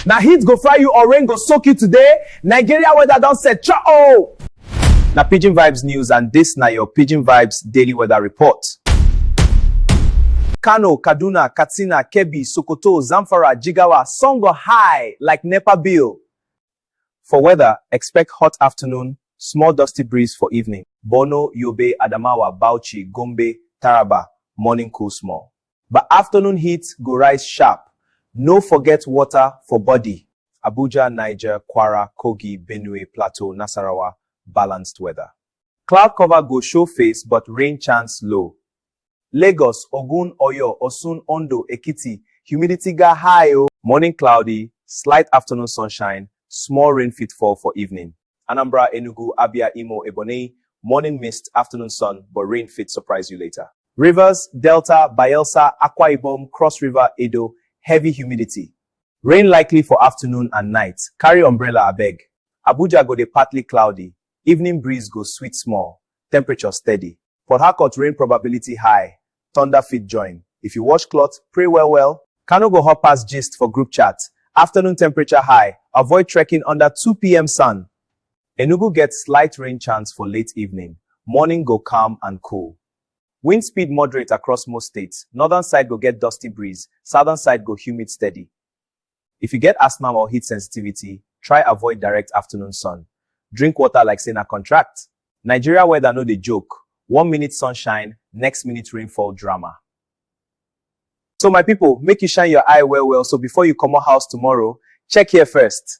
Na heat go fry you or rain go soak you today? Nigeria weather don set cha oh! Na Pidgin Vibes news and this na your Pidgin Vibes daily weather report. Kano, Kaduna, Katsina, Kebbi, Sokoto, Zamfara, Jigawa, sun go high like NEPA bill. For weather, expect hot afternoon, small dusty breeze for evening. Borno, Yobe, Adamawa, Bauchi, Gombe, Taraba, morning cool small. But afternoon heat go rise sharp, no forget water for body. Abuja, Niger, Kwara, Kogi, Benue, Plateau, Nasarawa, Balanced weather. Cloud cover go show face but rain chance low. Lagos, Ogun, Oyo, Osun, Ondo, Ekiti, humidity ga high o. Morning cloudy, slight afternoon sunshine, small rain fit fall for evening. Anambra, Enugu, Abia, Imo, Ebonyi, morning mist, afternoon sun, but rain fit surprise you later. Rivers, Delta, Bayelsa, Akwa Ibom, Cross River, Edo, heavy humidity. Rain likely for afternoon and night, carry umbrella abeg. Abuja go dey partly cloudy, evening breeze go sweet small, temperature steady. Port Harcourt rain probability high, thunder fit join. If you wash cloth, pray well well. Kano go hot pass gist for group chat. Afternoon temperature high, avoid trekking under 2 p.m. sun. Enugu get slight rain chance for late evening. Morning go calm and cool. Wind speed moderate across most states. Northern side go get dusty breeze, southern side go humid steady. If you get asthma or heat sensitivity, try avoid direct afternoon sun. Drink water like say na contract. Nigeria weather no dey joke, one minute sunshine, next minute rainfall drama. So my people, make you shine your eye well well so before you comot house tomorrow, check here first.